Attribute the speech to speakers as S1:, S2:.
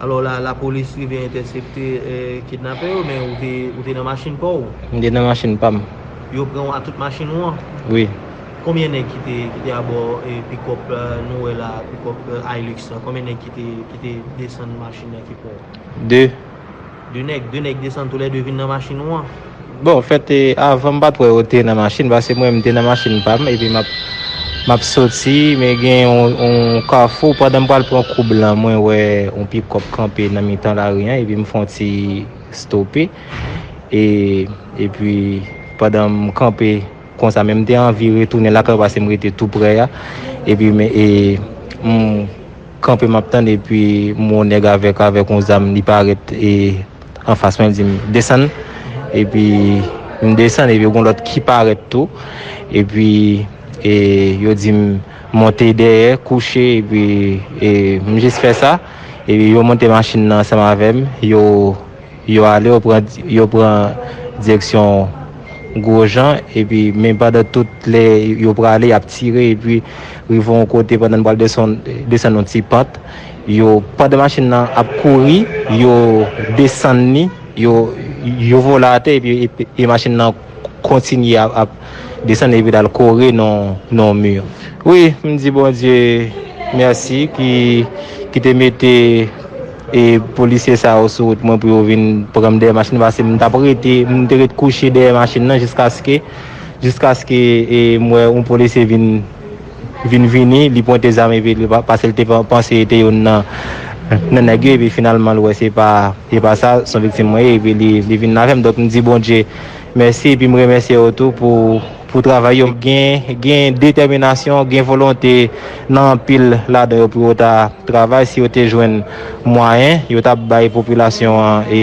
S1: Alò la lapolis rive entèsepte kidnapè yo men ou te nan machin pa w? M te nan machin pa
S2: m. Yo pran w ak tout
S1: machin ou an? Wi.
S2: Konbyen nèg
S1: ki te abò pikòp nou wè la, pikòp Hilux la? Konbyen nèg ki te desann machin nan ki pran w? De.
S2: 2 nèg,
S1: 2 nèg desann tou lè 2 vin nan machin ou an. Bon, fèt e
S2: avan m pat wè yo te nan machin pase mwen m te nan machin pa m epi map map soti men gen yon kafou pandan m pral pran kou blan mwen wè yon pikòp kanpe nan mitan lari an epi m fon ti stope e epi pandan m kanpe konsa men m te anvi retounen lakay pase m rete tou prè a epi men e m kanpe map tann epi m wè yon nèg avèk avèk yon zam li parèt e anfas mwen li dim desann epi m desann epi gon lòt ki parèt tou epi e yo dim monte dèyè kouche epi e m jis fè sa epi yo monte machin nan ansanm avèm yo Yo ale, yo pran, yo pran direksyon Gwojan epi men pandan tout lè yo prale y ap tire epi rive yon kote pandan n pral desann, desann yon ti pant yo, pandan machin nan ap kouri yo desann li, yo, yo vole atè epi machin nan kontinye ap. desann epi lal kore nan yon mur wi m di bondye merci ki ki te mete e polisye sa yo sou wout mwen pou yo vin pranm dèyè machin nan pase m tap rete m te ret kouche dèyè machin nan jiskaske jiskaske e m wè yon polisye vin vin vini li pwente zam epi li pase li te panse li te youn nan nan nèg yo epi finalman l wè se pa se pa sa son viktim mwen ye epi li vin avèm donk m di bondye Mèsi epi m remèsye yo tou pou pou travay yo gen gen detèminasyon gen volonte nan anpil ladan yo pou yo ta travay si yo te jwenn mwayen yo t ap bay popilasyon an e